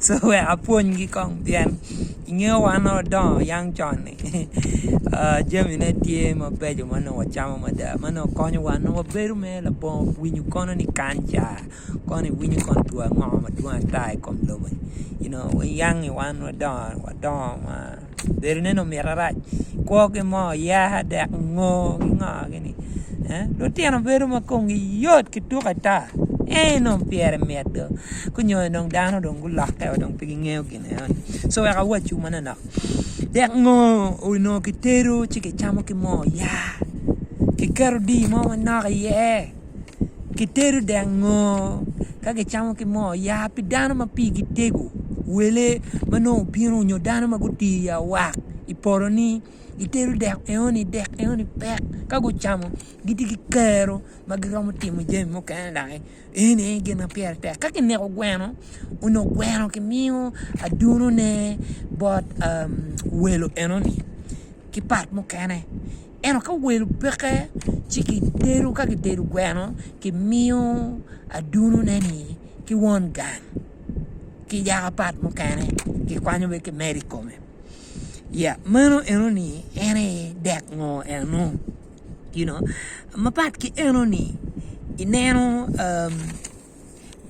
So wek apwonygi kong pien ingeyo wan ma wadongo yang con-ni jamine tye mabeco ma nongo wacamo mada ma nongo konyowa nongo wabedo mere labongo winyo kono ni kanca kono iwinyo kono two ango madwong ata i kom lobo-ni you know wayang-ngi wan wadongo wadongo ma bedo ne ni omito arac kwo ki moo yaa dek ngo ki ngo gini eh lutino bedo ma komgi yot ki tuk ata ey nongo pyere mit do ka onyo dong dano dong gulokke wa dong pe gingeyo gin eno ni so wek awaccu manonok dek ngo onongo kitedo ci kicamo ki moo yaa kiketo dii mo manok iye Kitedo dek ngo ka kicamo ki moo ya pi dano ma pigi tego wele ma nongo obino nyo dano ma gutii i awaka i polo ni itedo dek enoni dek enoni pek ka gucamo gitye ki kero ma giromo timo jami mukene dok eno aye gin ma pire tek ka kineko gweno onongo gweno kimiyo adunone bot welo enoni ki pat mukene. Ento ka welo peke ci kitedo ka kitedo gweno kimiyo adunone-ni ki won gang ki yaka pat mukene kikwanyo bene kimedo i kome ya meno enoni en aye dek ngo eno you know mapat ki enoni ineno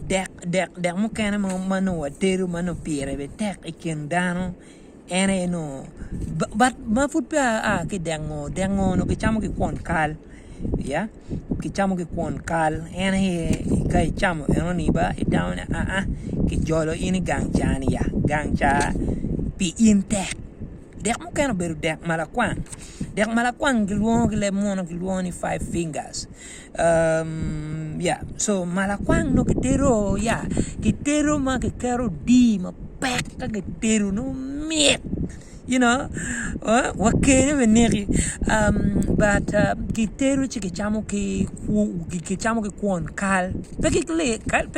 dek mukene ma nongo watedo ma nongo pire bene tek i kin dano En aye nongo bat ma pud peya aa ki i dek ngo, dek ngo nongo kicamo ki kwon kal ya kicamo ki kwon kal en aye ka icamo enoni ba itamo ni aa kijolo in i gang ca ni ya, gang ca pi in tek dek mukene obedo dek ma lakwang, dek ma lakwang kilwongo ki leb munu ni five fingers Ma lakwang nongo kitedo ya kitedo ma kiketo odii mapek ka kitedo nongo mit you know wa kele bene neki but kitedo ci kicamo ki kwon kal pe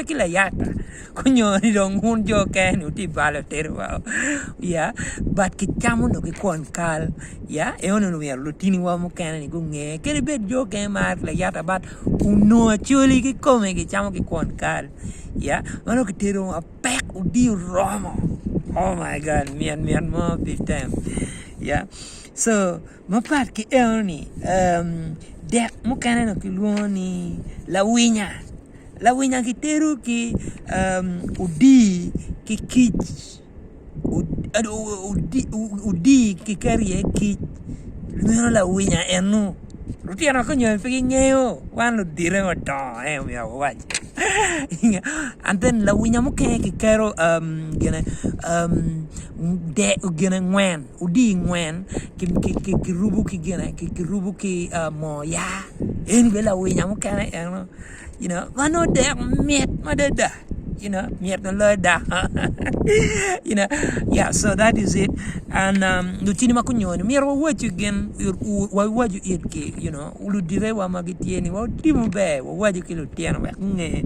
ki layata. Onyo ni dong wun jo oker ni wutye balo otero wa o ya but ki cam onongo ki kwon kal ya eno ni omyero lutini wa mukene ni gunge kadi bed jo okene mar layata but onongo acholi ki kome gi camo ki kwon kal ya mano ki tero wa pek odiyo oromo oh my God mit mit mo big time ya so Mapat ki eno-ni, dek mukene dong kilwongo ni lawinya. Lawinya gitero ki odii ki kic odii kiketo iye kic meno lawinya eno. Lutino ka onyono pe gingeyo wan ludito ma odongo aye omyero wawac and then lawinya mukene kiketo gine dek gine ngwen. Odii ngwen kirubu ki gine kirubu ki moo ya en obed lawinya mukene eno you know ma nongo dek mit madada you know mit ma loyo dako you know ya so that is it and lutini ma gunyowa ni myero wawacu gin wawacu itgi you know ludidewa ma gitye ni wa oti maber wawacu ki lutino wek gunge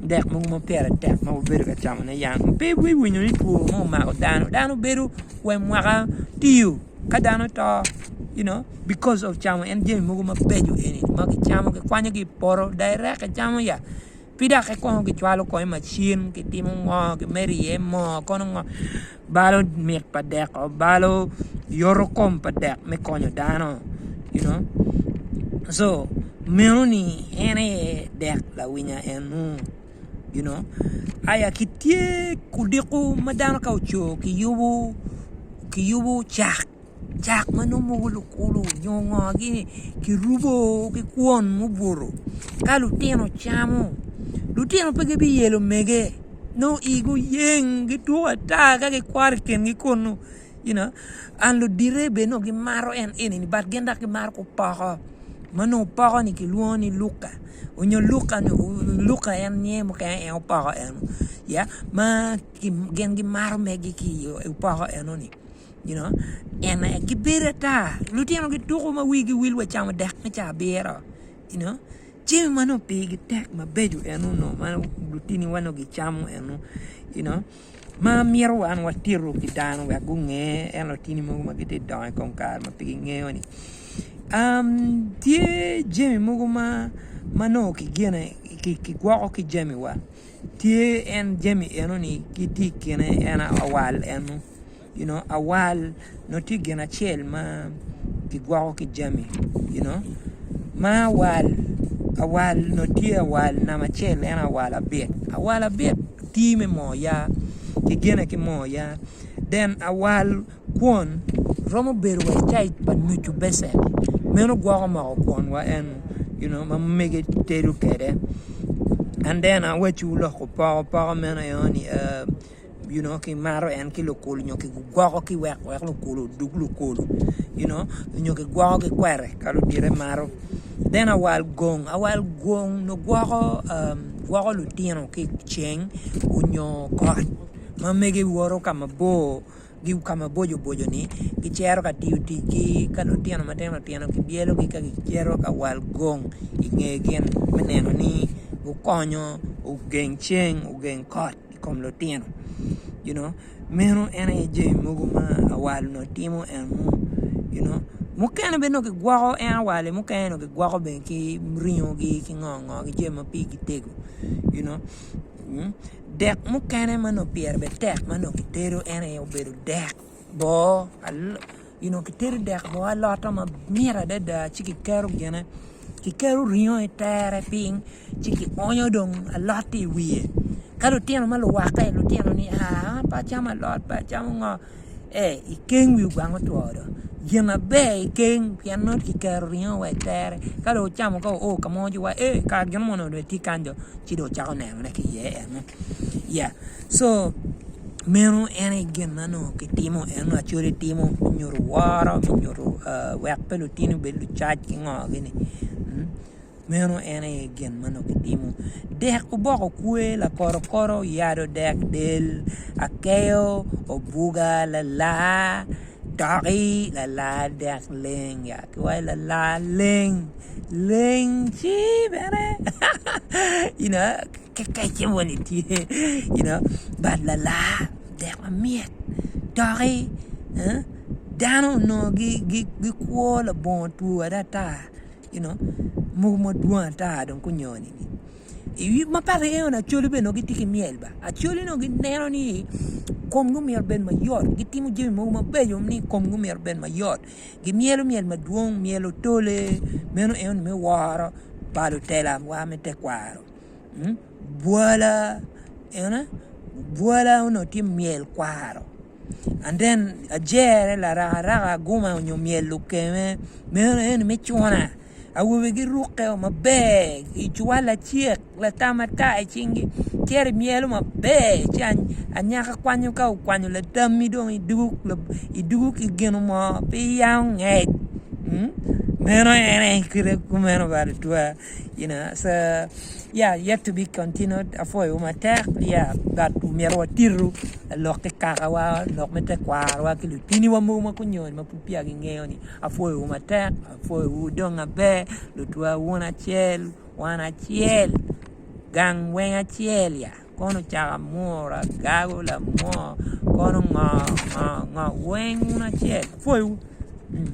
dek mogo ma pire tek ma wabedo ka camone yam pe iwinyo ni two mo omako dano dano bedo we mwaka tiyo ka dano to you know because of camo en jami mogo mabeco eni ma kicamo kikwanyo ki i poto direct kicamo ya ki dok kikongo kicwalo kong i macin kitimo ngo kimedo iye moo kono ngo balo mit pa dek oo balo yoto kom pa dek me konyo dano you know so meno ni en aye dek lawinya enu. you know aya ki tye odiko ma dano ka ocoo ki yubu ki yubu cak cak ma nongo mogo lukulu nyo ngo gi ni ki rubo ki kwon ma obuto ka lutino camo lutino pe gi bi yelo mege nongo igi oyeng gituk ata ka ki kwaro i kingi kunu you know and ludite bene nongo gimaro en eni but gin dok gimaro ki opoko ma nongo opoko ni kilwongo ni luka nyo luka ni luka en nge mukene en aye opoko eno ya ma gin gimaro megi ki i opoko eno ni you know en aye gibedo ata lutino gituko ma wigi wil wa camo dek me caa abiro you know jami ma nongo pigi tek mabeco eno nongo ma lutini wa nongo gicamo eno you know ma myero wan watito ki dano wek gunge en lutini mogo ma gitye ka dongo i kom kare ma pe gingeyo ni tye jami mogo ma nongo kigwoko ki jamiwa tye en jami eno ni gitye i kine en awal eno. You know, awal nongo tye gin acel ma kigwoko ki jami, you know. Ma awal, awal nongo tye awal namba acel en aye awal abit. Awal abit tii me moo ya, kigine ki moo ya. Then awal kwon romo bedo wa i caic pa nucu becen, meno gwoko moko kwon wa eno, you know, ma mege tedo kede. And then awaciwu loko poko, poko meno enoni, um. you know ki maro en ki lukulu nyo ki gwoko ki wek wek lukulu odug lukulu you know nyo ki gwoko ki kwere ka ludite maro then awal gong awal gong nyo gwoko um, gwoko lutino ki ceng onyo kot ma mege woto ka mabor gi ka maboco boco ni gicero ka tiyo ticgi ka lutino matino tino ki byelogi ka gicito ka wal gong inge gin me neno ni gukonyo ogeng ceng ogeng kot i kom lutino you know meno en aye jami mogo ma awal onongo timo and mo you know mukene bene dong kigwoko en awal-li mukene dong kigwoko bene ki ringogi ki ngo ngo ki jami ma pigi tego you know dek mukene ma onongo pyere bene tek ma onongo kitedo en aye obedo dek boo you know kitedo dek boo alota ma mit adada ci kiketo gine kiketo ringo i tere piny ci ki onyo dong alot-ti i wiye ka lutino ma luwakke lutino ni aa an pe acamo alot pe acamo ngo ee i keng wi ogwang otwo dong gin maber i keng pien nongo kiketo ringo wa i tere ka dong ocamo ka oo ka mo ci wa ee kara gin moni dong tye kany dong ci dong wucako nenone ki iye eno ya Co. Meno en aye gin ma nongo kitimo en nongo Acoli timo me nyuto woro me nyuto wek pe lutini obed lucac ki ngogini meno en aye gin ma nongo kitimo dek oboko kwe lakorokoto oyado dek del akeyo obuga lalar doki lalar dek leng ya kiwaci lalar leng leng ci bene you know. kekece moni tye you know bad lalar dek ma myek doki dano onongo gikwo labongo two wada ata you know mogo madwong ata dong gunyoni ma pe aryeyo ni acholi bene nongo gitye ki myel ba acholi nongo gineno ni komgi myero obed mayot gitimo jami mogo mabeco ni komgi myero obed mayot gimyelo myel madwong myel otole meno eno ni me woro pa lutela wa me tekwaro. bwala bwala onongo tye myel kwaro and then ajere larakaraka aguma nyo myel lukeme meno en aye me cuna awobe girukke o maber i cuwal lacek latam matar i cingi cito imyelo maber ci anyaka kwanyo ka okwanyo latami dong idugo ki gin mo pe iyango ngec meno en aye kite kumeno bene twaa. you know so yeah yet to be continued apwoyowu matek yeah but omyero watitu lok ki kakawa lok me tekwarowa ki lutiniwa mogo ma gunyony ma pud peya gingeyo ni apwoyowu matek apwoyowu wudong maber lutwa wun acel wan acel gang weng acel ya kono caka mura gago lamor kono ngo ngo ngo weng wun acel apwoyowu.